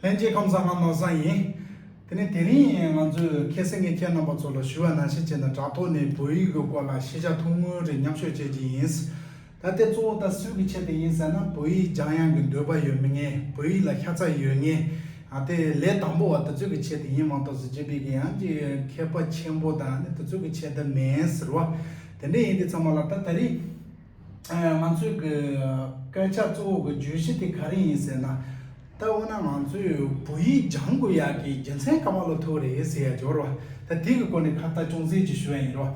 ལྷན་སྐྱེས་ཁམས་བཟང་ང་ནོར་བཟང་ཡིན། དེ་ནས་དེ་རིང་ང་ཚོས་མཁས་སེ་ངས་ཁྱེད་རྣམ་པ་ཚོ་ལ་ཞུ་བ་ནང་བཞིན་བྱས་ན་དྲ་ཐོག་ནས་བོད་ཡིག་གི་སྐོར་ལ་ཤེས་བྱ་ཐུང་ངུ་རེ་མཉམ་ཤོད་བྱེད་ཀྱི་ཡིན། ད་ལྟའི་གཙོ་བོ་དང་སུས་ཀྱི་ཆེད་དུ་ཡིན་ཟེར་ན་བོད་ཡིག་སྦྱང་ཡང་གི་འདོད་པ་ཡོད་མི་ངན་བོད་ཡིག་ལ་ཤ་ཚ་ཡོད་ངན་དེ་ལས་དང་པོ་བ་དེ་ཚོས་ཀྱི་ཆེད་དུ་ཡིན་མ་གཏོགས་སུ་སྤྱི་པའི་གི་ཡང་གི་མཁས་པ་ཆེན་པོ་དང་དེ་ཚོས་ཀྱི་ཆེད་དུ་མིན་ཟེར་བ་དེ་འདྲས་ཡིན་དེ་ཚང་མ་ལ་ད་ད་རེས། ང་ཚོས་གི་སྐད་ཆ་གཙོ་བོ་གི་བརྗོད་གཞི་དེ་ག་རེ་ཡིན་ཟེར་ན། ད་འོ་ན་ང་ཚོས་བོད་ཡིག་སྦྱང་དགོས་ཡག་གི་རྒྱུ་མཚན་ག་མ་ལོ་ཐུག་རེད་ཟེར་ཡ་འབྱོར་བ་ད་དེ་གི་སྐོར་ནས་ཁ་བརྡ་ཅུང་ཟད་ཅིག་ཞུ་ཡ་ཡིན་རོ།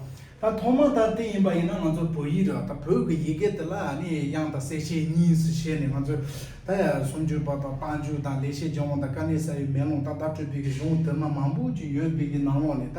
ད་ཐོག་མ་ད་དེ་ཡིན་པ་ཡིན་ན་ང་ཚོ་བོད་ཡིག་ར་ད་བོད་གི་ཡི་གེ་དེ་ལ་ནི་དབྱངས་དང་གསལ་བྱེད་གཉིས་སུ་ཕྱེ་ནས་ང་ཚོས་ད་ཡ་སུམ་ཅུ་པ་དང་བཏང་འཇུག་དང་ལེགས་བཤད་ལྗོན་དབང་དང་དཀའ་གནས་གསལ་བའི་མེ་ལོང་ད་བརྡ་སྤྲོད་པའི་གི་གཞུང་དེ་མ་མང་པོ་ཅིག་ཡོད་པའི་གི་ནང་ལོགས་ནས་ད།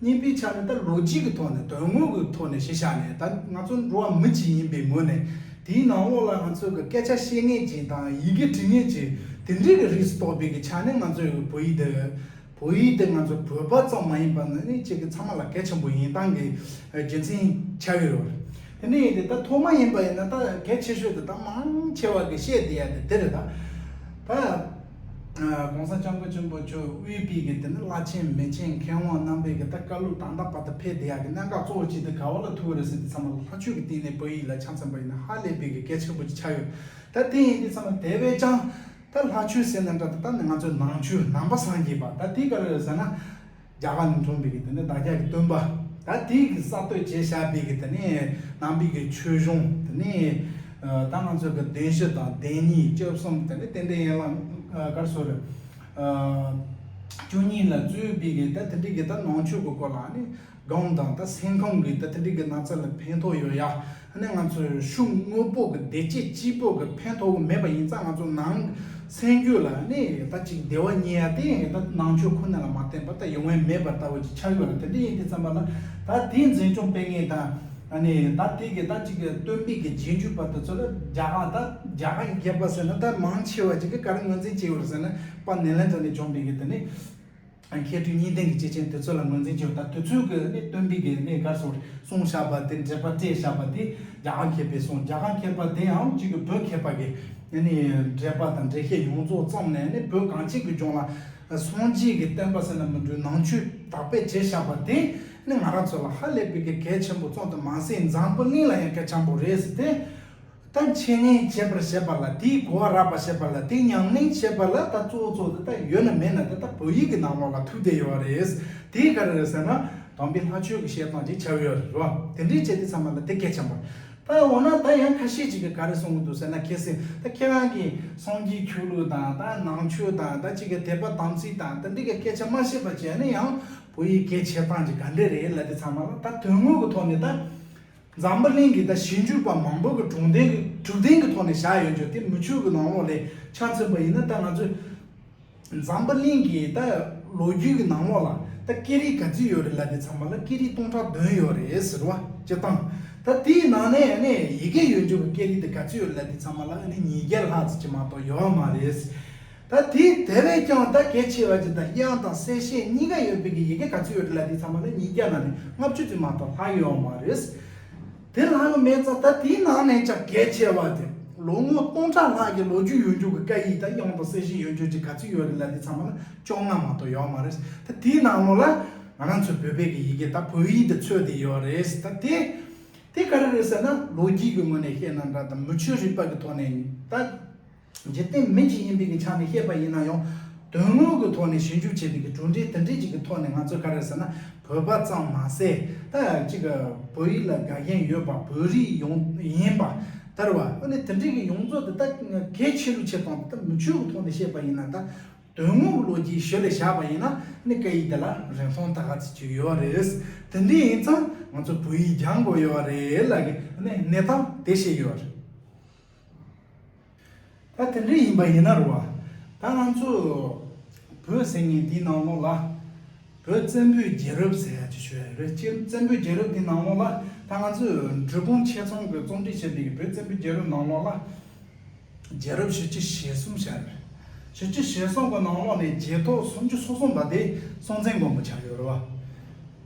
གཉིས་པའི་ཆ་ནས་ད་ལོ་རྒྱུས་ཀྱི་ཐོག་ནས་དོན་དངོས་ཀྱི་ཐོག་ནས་གཞི་བཞག་ནས་ད་ང་ཚོ་འགྲོ་བ་མི་གཅིག་ཡིན་པའི་ངོས་ནས་དེའི་ནང་ལོགས་ལ་ང་ཚོས་ཀྱི་སྐད་ཆ་བཤད་ངེས་ཀྱི་དང་ཡི་གེ་འབྲི་ངེས་ཀྱི་དེ་འདྲའི་ཀྱི་རིགས་སུ་གཏོགས་པའི་ཀྱི་ཆ་ནས་ང་ཚོས་ཀྱི་བོད་ཡིག་འདི་བོད་ཡིག་འདི་ང་ཚོ་བོད་པ་ཙམ་མ་ཡིན་པ་ནི་ནི་ཁྱེད་ཀྱི་ཚང་མ་ལ་གལ་ཆེན་པོ་ཡིན་སྟངས་ཀྱི་རྒྱུ་མཚན་ཆགས་ཀྱི་ཡོད་རེད་དེ་ནས་ད་ཐོག་མ་ཡིན་པ་ཡིན་ན་ད་གལ་ཆེ་ཤོས་དེ་ད་མང་ཆེ་བ་ཀྱི་བཤད་བསྡད་ཡ་དེ་དེ་རེད་ད། ྋགོང་ས ྋསྐྱབས་མགོན་ཆེན་པོ་མཆོག་དབུས་དཔལ་གྱི་དེ་ནི་བླ་ཆེན་མི་ཆེན་མཁས་དབང་རྣམ་པས་གི་ད་བཀའ་ལུགས་དང་དག་པ་དང་ཕེ་བདེ་ཡག་གི་གནད་འགག་གཙོ་བོ་ཅིག་དེ་ག་བ་ལ་ཐུག་གི་རེད་ཟེར་ཏེ་ཚང་མ་ལ་ལྷ་ཆོས་ཀྱི་སྟེང་ནས་བོད་ཡིག་ལ་ཆ་མཚོན་པ་ཡིན་ན་ཧ་ལས་པའི་གི་གལ་ཆེན་པོ་ཅིག་ཆགས་ཡོད་ད་དེ་ཡིན་དུས་ཚང་མ་དེ་བས་ཀྱང་ད་ལྷ་ཆོས་ཟེར་ན་འདྲ་ད་ད་ནི་ང་ཚོའི་ནང་ཆོས་ནང་པ་སངས་རྒྱས་པ་ད་དེ་ག་རེ་རེད་ཟེར་ན། རྒྱ་གར་ནས་འཁྲུངས་པའི་གི་དེ་ནས་བདག་ཅག་གི་སྟོན་པ་ད་དེའི་གི་གསར་གཏོད་བྱས་བཞག་པའི་གི་དེ་ནས་ནང་པའི་གི་ཆོས་གཞུང་དེ་ནས་ད་ང་ཚོའི་གི་བདུན་བཞི་དང་བདེན་གཉིས་བཅུ་གསུམ་དེ་ནས་རྟེན་འབྲེལ་ཡན་ལག་དཀར་སོར་བཅུ་གཉིས་ལ་བཙུད་པའི་གི་ད་དེ་འདྲའི་གི་ད་ནང་ཆོས་གི་སྐོར་ལ་ནི་སྒང་དང་ད་སེང་ཁམས་གི་ད་དེ་འདྲའི་གི་ན་ཚ་ལ་ཕན་ཐོགས་ཡོད་ཡ། ད་ནི་ང་ཚོས་ཤུགས་དངོས་པོ་གི་བདེ་སྐྱིད་སྤྱི་བོ་གི་ཕན་ཐོགས་ཀྱི་མེད་པ་ཡིན་ཙང་ང་ཚོ་ནང་གི་སེམས་རྒྱུད་ལ་ནི་ད་ཅིག་བདེ་བ་རྙེད་ཡ་དེ་ཡང་ད་ནང་ཆོས་ཁོ་ན་ལ་མ་བརྟེན་པར་ད་ཡོང་ཡ་མེད་པ་ལྟ་བུ་ཅིག་ཆགས་ཡོད་ལ་དེ་འདྲ་ཡིན་དུས་བརྩམས་པ་ལ་ད་དེའི་འཛིན་སྐྱོང་སྤེལ་མཁན་དང་ནི་ད་དེ་གི་ད་ཅིག་བསྟོད་འབིག་གི་རྗེས་འཇུག་པ་དེ་ཚོ་ལ་རྒྱ་གར་ད་རྒྱ་གར་གྱི་རྒྱལ་པོ་ཟེར་ན་ད་མང་ཆེ་བ་ཅིག་གིས་ག་རེ་ངོས་འཛིན་བྱས་ཡོད་རེད་ཟེར་ན་པ་ནེ་ལན་ཚ་ནས་བྱུང་འདུག་གི་དེ་ནི། མཁས་སྤྲུལ་གཉིས་ལྡན་གྱི་སྐྱེས་ཆེན་དེ་ཚོ་ལ་ངོས་འཛིན་བྱོས་དང་དེ་ཚོའི་གི་ནི་སྟོན་པའི་གི་ནི་སྐར་ཚོགས་རེ་གསུངས་བཞག་པ་དེ་འགྲེལ་པ་སྤྲད་བཞག་པ་དེ་རྒྱ་གར་མཁས་པས་གསུངས་རྒྱ་གར་མཁས་པ་དེ་ཡང་གཅིག་གི་བོད་མཁས་པ་གི་ནི་ནི་འགྲེལ་པ་དང་འགྲེལ་བཤད་ཡོངས་རྫོགས་བརྩམས་ནས་ནི་བོད་གངས་ཅན་གི་ལྗོངས་ལ་སངས་རྒྱས་ཀྱི་བསྟན་པ་ཟེར་ན་མི་འགྲུལ་ནང་ཆོས་དར་སྤེལ་བྱས་བཞག་པ་དེ་ནི་ང་རང་ཚོ་ལ་ཧ་ལས་པའི་གི་གལ་ཆེན་པོ་བརྩམས་དང་མ་ཟད་འཛམ་བུ་གླིང་ལ་ཡང་གལ་ཆེན་པོ་རེད་ཟེར་ཏེ། ད་འཆད་ཉན་བྱེད་པར་བྱེད་པ་ལ་དེའི་གོ་བ་རགས་པར་བྱེད་པ་ལ་དེ་ཉམས་ལེན་བྱེད་པ་ལ་ད་གཙོ་བོ་གཙོ་བོ་དེ་ད་ཡོད་ན་མེད་ན་དེ་ད་བོད་ཡིག་གི་ནང་ལོགས་ལ་ཐུག་བསྡད་ཡོད་རེད། དེ་ག་རེ་རེད་ཟེར་ན་དམ་པའི་ལྷ་ཆོས་ཀྱི་བཤད་སྟངས་ཅིག་བྱ་ཡོད་རེད་བ། དེ་འདྲས་བྱས་ཏེ་ཚང་མ་ལ་དེ་སྐད་བྱམས་པ། ད་འོ་ན་ད་ཡང་ཁ་ཤས་ཅིག་གིས་ག་རེ་གསུང་གི་འདུག་ཟེར་ན་ཁྱེད་སེ་ད་ཁྱེད་རང་གིས་སངས་རྒྱས་ཆོས་ལུགས་དང་ད་ནང་ཆོས་དང་ད་ཅིག་གི་དད་པ་དམ་ཚིག་དང་དེ་འདྲས་གི་སྐད་ཆ་མ་བཤད་པར་བྱས་ན་ཡང་བོད་ཡིག་སྐད་བྱེད་སྟངས་ཅིག་ག་འདྲས་རེད་ལ་དེ་ཚང་མ་ལ་ད་དོན་དངོས་ཀྱི་ཐོག་ནས་ད་འཛམ་བུ་གླིང་གི་ད་ཞིབ་འཇུག་པ་མང་པོ་གི་དྲུག་འདེང་དྲུག་འདེང་གི་ཐོག་ནས་བཞག་ཡོད་རྒྱུ་དེ་མུ་ཁྱུད་ཀྱི་ནང་ལོགས་ལས་ཆ་མཚོན་པ་ཡིན་ན་ད་ང་ཚོས་འཛམ་བུ་གླིང་གི་ད་ལོ་རྒྱུས་ཀྱི་ནང་ལོགས་ལ་ད་སྐད་རིགས་ག་ཚོད་ཡོད་རེད་ལབ་པའི་ཚང་མ་ལ་སྐད་རིགས་སྟོང་ཕྲག་བདུན་ཡོད་རེད་ཟེར་བ་སྤྱི་བཏང་ད་དེའི་ནང་ནས་ཨ་ནེ་ཡི་གེ་ཡོད་རྒྱུ་གི་སྐད་རིགས་དེ་ག་ཚོད་ཡོད་རེད་ལབ་པའི་ཚང་མ་ལ་ཨ་ནེ་ཉིས་བརྒྱ་ལྷག་ཙམ་གྱི་མ་གཏོགས་ཡོད་མ་རེད། ད་དེ་དེ་བས་ཀྱང་ད་གལ་ཆེ་བ་ཅིག་ད་དབྱངས་དང་གསལ་བཤད་གཉིས་ཀ་ཡོད་པའི་གི་ཡི་གེ་ག་ཚོད་ཡོད་རེད་ལ་དེ་ཚང་མ་ནི་ཉིས་བརྒྱ་ན་ནས་ལྔ་བཅུ་དེ་མ་གཏོགས་ལྷག་ཡོད་མ་རེད། དེ་ལྷག་ཡོད་མེད་ཙང་ད་དེའི་ནང་ནས་ཀྱང་གལ་ཆེ་བ་དེ་ལོ་ངོ་སྟོང་ཕྲག་ལྷག་གི་ལོ་རྒྱུས་ཡོད་འགྱུར་གི་བཀའ་ཡིག་ད་དབྱངས་དང་གསལ་བཤད་ཡོད་འགྱུར་ཅིག་ག་ཚོད་ཡོད་རེད་ལ་དེ་ཚང་མ་ནི་བཅོ་ལྔ་མ་གཏོགས་ཡོད་མ་རེད། ད་དེའི་ནང་ལོ་ལ་ང་རང་ཚོའི་བོད་པའི་གི་ཡི་གེ་ད་བོད་ཡིག་དེ་ཚོད་དེ་ཡོད་རེད། ད་དེ་དེ་ག་རེ་རེད་ཟེར་ན་ལོ་རྒྱུས་གི་ངོས་ནས་བཤད་ན་འདྲ་དང་མི་ཆོས་རིག་པ་གི་ཐོག་ནས་ད། འཇིག་རྟེན་མི་གཅིག་ཡིན་པའི་ཆ་ནས་བཤད་པ་ཡིན་ན་ཡང། དོན་དངོས་ཀྱི་ཐོག་ནས་ཞིབ་འཇུག་བྱས་པའི་གྲུབ་འབྲས་དེ་འདྲའི་ཞིག་གི་ཐོག་ནས་ང་ཚོས་ག་རེ་ཟེར་ན་བོད་པ་ཙམ་མ་ཟད་ད་ཅིག་བོད་ཡིག་ལ་དགའ་མཁན་ཡོད་པ་བོད་རིགས་ཡོངས་ཡིན་པ་དར་བ་དངོས་གནས་དེ་འདྲའི་གི་ཡོངས་རྫོགས་དེ་ད་གལ་ཆེ་རུ་ཕྱེ་སྟངས་དེ་ད་མི་ཆོས་ཀྱི་ཐོག་ནས་བཤད་པ་ཡིན་ན་ད་དོན་དངོས་ཀྱི་ལོ་རྒྱུས་ཞོལ་ལས་བཞག་པ་ཡིན་ན་ནི་སྐད་ཡིག་དེ་ལ་རིན་ཐང་ད་ག་ཚོད་ཅིག་ཡོད་བ་རེད། དེ་འདྲའི་ཡིན་ཙང་ང་ཚོ་བོད་ཡིག་སྦྱང་དགོས་ཡོད་བ་རེད་ལ་གི་གནས་སྟངས་དེ་བཤད་ཡོད་བ་རེད། ད་དེ་འདྲ་ཡིན་པ་ཡིན་ན་རུང་བ། ད་ང་ཚོ་བོད་ཟེར་ངེས་འདི་ནང་ལོགས་ལ། བོད་བཙན་པོའི་རྒྱལ་རབས་ཟེར་ཡག་ཅིག་ཤོད་ཡ་རེད་ཅེ་བཙན་པོའི་རྒྱལ་རབས་འདི་ནང་ལོགས་ལ། ད་ང་ཚོས་འབྲུ་སྤུངས་ཆེད་ཚོང་གི་རྩོམ་སྒྲིག་བྱས་འདི་གི་བོད་བཙན་པོའི་རྒྱལ་རབས་ནང་ལོགས་ལ། རྒྱལ་རབས་བཞི་བཅུ་ཞེ་གསུམ་ཤར། བཞི་བཅུ་ཞེ་གསུམ་གི་ནང་ལོགས་ནས་རྗེས་ཐོག་སུམ་ཅུ་སོ་གསུམ་པ་དེ་སྲོང་བཙན་མགོན་པོ་ཆགས་ཡོད་རུང་བ།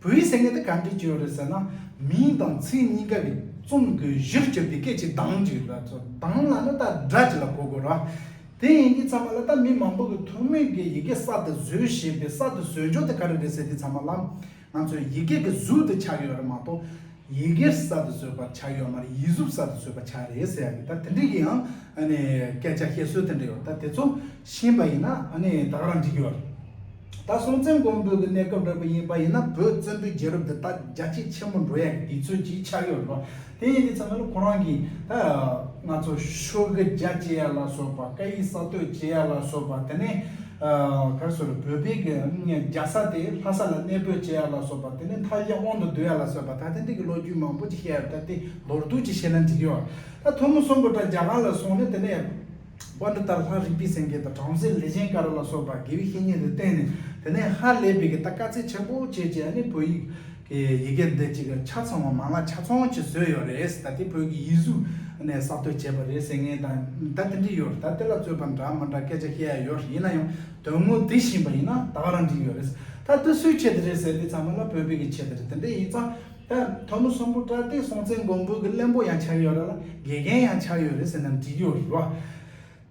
བུ་ཡིས་སེང་གེ་འདི་ག་འདྲས་བྱོས་རེད་ཟེར་ན། མིང་དང་ཚིག་གཉིས་ཀ་གི་རྩོམ་དགོས་གཞིར་གྱུར་ཏེ་སྐད་ཅིག་དྭངས་ཅིག་ར་ཚོ་དྭངས་ལ་ནི་ད་སྒྲ་ཅིག་ལ་གོ་དགོས་ར། དེ་ཡིན་གྱི་ཚང་མ་ལ་ད་མི་མང་པོ་གི་ཐུགས་མོས་ཀྱིས་ཡི་གེ་གསར་དུ་བཟོས་ཞེས་པའི་གསར་དུ་བཟོས་འཇོག་དེ་ག་རེ་རེད་ཟེར་དུས་ཚང་མ་ལ། ང་ཚོས་ཡི་གེ་གི་གཟུགས་དེ་ཆགས་ཡོད་རེད་མ་གཏོགས། ཡི་གེར་གསར་དུ་བཟོས་པར་བྱ་ཡོད་མར་ཡིད་གཟུགས་གསར་དུ་བཟོས་པར་བྱ་རེད་ཟེར་ཡག་གི་ད་དེ་འདྲས་ཀྱི་ཡང་སྐད་ཆ་བཤད་སྲོལ་དེ་འདྲས་ཡོད་ད་དེ་ཚོ་ཤེས་པ་ཡིན་ན་ད་ག་རང་འགྲིག་གི་ཡོད་རེད་ད་སྲོང་བཙན་སྒོམ་པོད་ཀྱི་གནས་སྐབས་རེད་པ་ཡིན་པ་ཡིན་ན་བོད་བཙན་པོའི་རྒྱལ་རབས་འདི་ད་རྒྱ་སྐྱེད་ཆེན་པོ་འགྲོ་ཡག་གི་དེ་ཚོས་ཀྱིས་ཆགས་ཡོད་རེད་པ་དེ་ཡིན་དེ་ཚང་མ་ལ་ཁོ་རང་གིས་ད་ང་ཚོ་ཤོ་གི་རྒྱ་བསྐྱེད་ཡག་ལ་སོགས་པ་བཀའ་ཡིག་གསར་གཏོད་བྱེད་ཡག་ལ་སོགས་པ་དེ་ནས་ད་གཟོད་ལ་བོད་པའི་གི་རྒྱ་ས་དེ་ལྷ་ས་ལ་གནས་སྤོས་བྱས་ཡ་ལ་སོགས་པ་དེ་ནས་མཐའ་གཞན་དབང་དུ་བསྡུ་ཡ་ལ་སོས་པ་ད་ཐེངས་འདི་གི་ལོ་རྒྱུས་མང་པོ་ཅིག་བཤད་ཡ་ད་དེ་མདོར་བསྡུས་ཅིག་བཤད་ན་འགྲིག་ཡོད་ད་ཐུ་མོ་གསུམ་པོ་ད་རྒྱ་གར་ལ་སོང་ནས་དེ་ནས་དཔོན་འདི་ལྟར་ལྷ་རིག་པའི་སེང་གེ་དང་བྲམ་ཟེ་ལས་ཅན་ཀ་ར་ལ་སོས་པ་དགེ་བའི་བཤེས་གཉེན་དེ་བསྟེན་ནས་དེ་ནས་ཧ་ལས་པའི་གི་ད་དཀའ་ཚེགས་ཆེན་པོ་བྱས་བྱས་ནས་བོད་ཡིག་གི་ཡི་གེ་འདི་གཅིག་གི་ཆ་ཚང་བ་མ་ལ་ཆ་ཚང་གཅིག་བཟོས་ཡོད་རེད་ཟེར་ད་དེ་བོད་ཀྱི་ཡིག་གཟུགས་ནས་གསར་གཏོད་བྱས་པ་རེད་ཟེར་ངེས་དང་ད་དེ་འདྲི་ཡོད་ད་དེ་ལ་རྩོད་པ་འདྲ་མི་འདྲ་སྐད་ཆ་བཤད་ཡ་ཡོད་རེད་ཡིན་ན་ཡང་དོན་དངོས་དེ་བཞིན་པ་ཡིན་ན་ད་ག་རང་འགྲིག་ཡོད་རེད་ད་དེ་སུའི་ཆེད་དུ་རེད་ཟེར་དེ་ཚང་མ་ལ་བོད་པའི་གི་ཆེད་དུ་རེད་དེ་འདྲ་ཡིན་ཙང་ད་དོན་དངོས་གསོན་པོ་དྲ་སྟེ་སྲོང་བཙན་སྒོམ་སྤོས་གི་གླེན་པོ་ཡང་ཆགས་ཡོད་ར་ལ་དགེ་རྒན་ཡང་ཆགས་ཡོད་རེད་ཟེར་ན་འགྲིག་ཡོད་རེད་བ།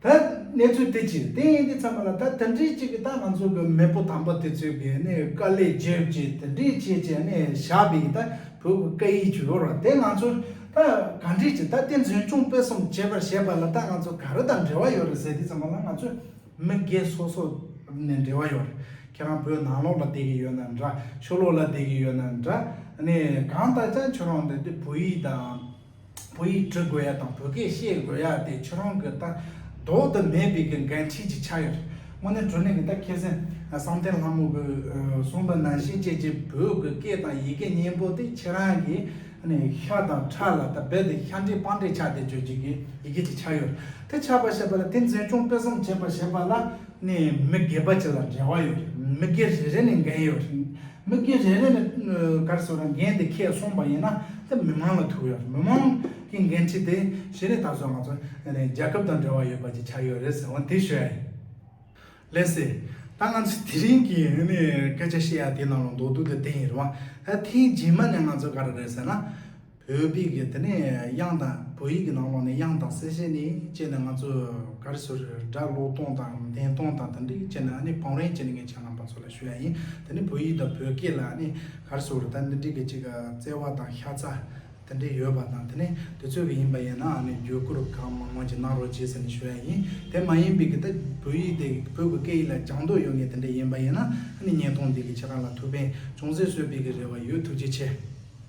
ད་གནས་ཚུལ་དེ་ཅི་རེད་དེ་ཡིན་དུས་ཚང་མ་ལ་ད་དེ་འདྲའི་གཅིག་གིས་ད་ང་ཚོ་གི་མེས་པོ་དམ་པ་དེ་ཚོས་གི་ནི་དཀའ་ལས་བརྒྱབ་ཀྱི་དེ་འདྲས་བྱས་ཀྱི་ནི་བཞག་པའི་ད་བོད་ཀྱི་སྐད་ཡིག་བྱུ་རུ་དེ་ང་ཚོར་ད་ག་འདྲས་ཀྱི་ད་དེ་འཛིན་སྐྱོང་སྤེལ་གསུམ་བྱེད་པར་བྱས་པ་ལ་ད་ང་ཚོ་ག་རེ་དང་འབྲེལ་བ་ཡོད་རེད་ཟེར་དུས་ཚང་མ་ལ་ང་ཚོས་མི་སྒེར་སོ་སོ་ནས་འབྲེལ་བ་ཡོད་རེད་ཁྱེད་རང་བོད་ནང་ལོགས་ལ་བསྡད་ཀྱི་ཡོད་ན་འདྲ་ཆོས་ལོགས་ལ་བསྡད་ཀྱི་ཡོད་ན་འདྲ་ནི་གང་ལྟར་ཀྱང་ཁྱོད་རང་འདི་འདི་བོད་ཡིག་དང། བོད་ཡིག་འབྲི་དགོས་ཡ་དང་བོད་སྐད་བཤད་དགོས་ཡ་དེ་ཁྱོད་རང་གི་ལྟ་རྟོག་དུ་མེད་པའི་གི་འགན་འཁྲི་ཅིག་ཆགས་ཡོད་རེད། དངོས་གནས་དྲུང་ནས་གི་ད་ཁྱེད་སེང་བསམ་གཏན་ལྷ་མོ་གི་གསུངས་པ་ནང་བཞིན་ཀྱེ་ཀྱེ་བོད་གི་སྐད་དང་ཡི་གེ་སྙན་པོ་དེ་ཁྱེད་རང་གི་ཤ་དང་ཁྲག་ལ་ད་རྦད་དེ་ཤ་འདྲེས་པང་འདྲེས་ཆགས་ཏེ་བརྗོད་ཀྱི་གི་ཡི་གེ་ཅིག་ཆགས་ཡོད་རེད་དེ་ཆགས་པ་ཞེས་པ་ལ་དེ་མཛེས་ལྗོངས་སྤེལ་གསུམ་བྱེད་པ་ཞེས་པ་ལ་ནས་མི་སྒེར་པ་གཅིག་ལ་འབྲེལ་བ་ཡོད་རེད་མི་སྒེར་རེ་རེ་ནས་འགན་ཡོད་རེད་མི་སྒེར་རེ་རེ་ནས་ག་རེ་ཟོ་ར་འགན་དེ་ཁས་བསྲུངས་པ་ཡིན་ན་དེ་མི་མང་ལ་ཐུག་ཡོད་རེད་མི་མང་གི་འགན་འཁྲི་དེ་གཞི་ནས་ད་གཟོད་ང་ཚོ་རྒྱལ་ཁབ་དང་འབྲེལ་བ་ཡོད་པ་ཅིག་ཆགས་ཡོད་རེད་ཟེར་བ་དེ་ཤོད་ཡ་ཡིན། ལེ་སི། ད་ང་ཚོས་དེ་རིང་གི་སྐད་ཆ་བཤད་ཡ་དེ་ནང་ལ་མདོ་སྡུག་དེ་དེ་ཡིན་རེད་བ། ད་ཐེངས་རྗེས་མ་ནས་ང་ཚོ་ག་རེ་རེད་ཟེར་ན། བོད་སྤིག་གི་དེ་ནས་དབྱངས་དང་བོད་ཡིག་གི་ནང་ལོགས་ནས་དབྱངས་དང་གསལ་བྱེད་ནི་སྤྱད་ནས་ང་ཚོ་ག་རེ་ཟུར་སྒྲ་ཀློག་སྟོང་དང་འདེན་སྟོང་དང་དེ་འདྲས་སྤྱད་ན་ཨ་ནི་བང་རིང་སྤྱད་ནས་ངས་བྱས་ལམ་པ་ཚོ་ལ་ཞུ་ཡ་ཡིན་དེ་ནི་བོད་ཡིག་དང་བོད་སྐད་ལ་ཨ་ནི་ག་རེ་ཟུར་ད་འདི་འདྲས་ཀྱི་ཅིག་བརྩེ་བ་དང་ཤ་ཚ་དེ་འདྲས་ཡོད་པ་དང་དེ་ནི་དུས་ཚོད་ཀྱི་ཡིན་པ་ཡིན་ན་ཨ་ནི་བརྒྱུད་བསྐུར་གང་མང་མང་ཅིག་གནང་རོགས་བྱས་ཟེར་ནས་ཞུ་ཡ་ཡིན་དེ་མ་ཡིན་པིག་གི་ད་བོད་ཡིག་དེ་བོད་ཀྱི་སྐད་ཡིག་ལ་སྦྱང་འདོད་ཡོད་ངེས་དེ་འདྲས་ཡིན་པ་ཡིན་ན་ཨ་ནི་བརྙན་ཐུང་འདི་གི་ཕྱི་རྐང་ལ་ཐུགས་ཕན་ཅུང་ཟད་གསོས་པིག་གི་རེ་བ་ཡོད་ཐུགས་རྗེ་ཆེ།